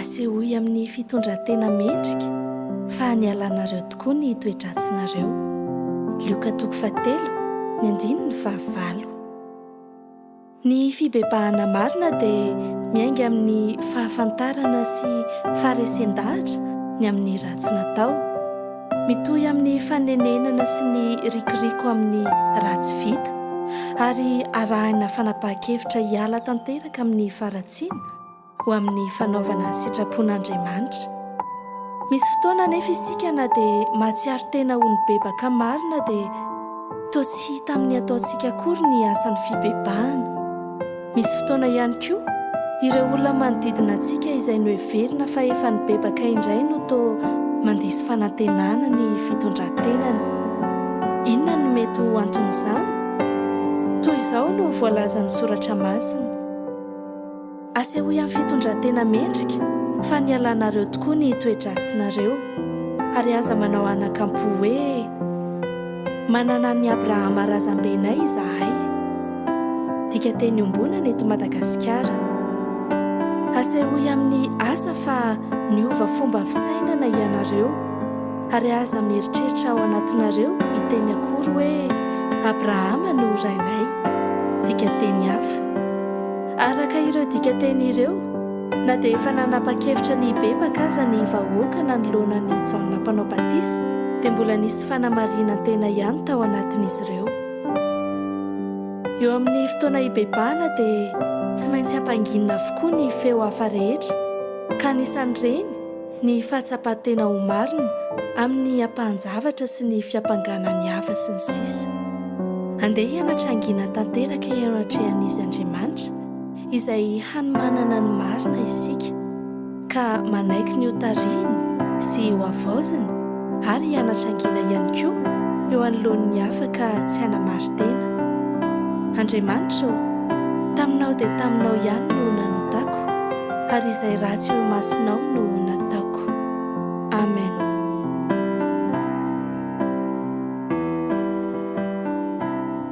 Asehoy amin'ny fitondran-tena mendrika fa nialanareo tokoa ny toe-dratsinareo. Lioka toko fahatelo, ny andininy fahavalo. Ny fibebahana marina dia miainga amin'ny fahafantarana sy faharesen-dahatra ny amin'ny ratsy natao. Mitohy amin'ny fanenenana sy ny rikiriko amin'ny raha tsy vita ary arahina fanapahan-kevitra hiala tanteraka amin'ny faharatsiana ho amin'ny fanaovana sitrapon'Andriamanitra. Misy fotoana anefa isika na dia mahatsiaro tena ho nibebaka marina dia toa tsy hita amin'ny ataontsika akory ny asan'ny fibebahana. Misy fotoana ihany koa, ireo olona manodidina antsika izay noheverina fa efa nibebaka indray no toa mandiso fanantenana ny fitondran-tenany. Inona no mety ho anton'izany? Toy izao no voalazan'ny Soratra Masina, Asehoy amin'ny fitondran-tena mendrika fa nialanareo tokoa ny toe-dratsinareo, ary aza manao anakampo hoe, Manana an'i Abrahama razambenay izahay. Dika teny ombonana eto Madagasikara. Asehoy amin'ny asa fa niova fomba fisainana ianareo ary aza mieritreritra ao anatinareo hiteny akory hoe Abrahama no rainay. Dika teny hafa. Araka ireo dika teny ireo, na dia efa nanapa-kevitra ny hibebaka aza ny vahoaka nanoloana an'i Jaona Mpanao Batisa, dia mbola nisy sy fanamarinan-tena ihany tao anatin'izy ireo. Eo amin'ny fotoana hibebahana dia tsy maintsy hampanginina avokoa ny feo hafa rehetra, ka anisan'ireny ny fahatsapan-tena ho marina amin'ny ampahan-javatra sy ny fiampangana ny hafa sy ny sisa. Andeha hianatra hangina tanteraka eo anatrehan'Izy Andriamanitra izay hanomanana ny marina isika. ka manaiky ny hotarihiny sy hohavaoziny ary hianatra angina ihany koa eo anoloan'ny hafa ka tsy hanamari-tena. Andriamanitra ô, taminao dia taminao ihany no nanotako, ary izay ratsy eo imasonao no nataoko. Amen.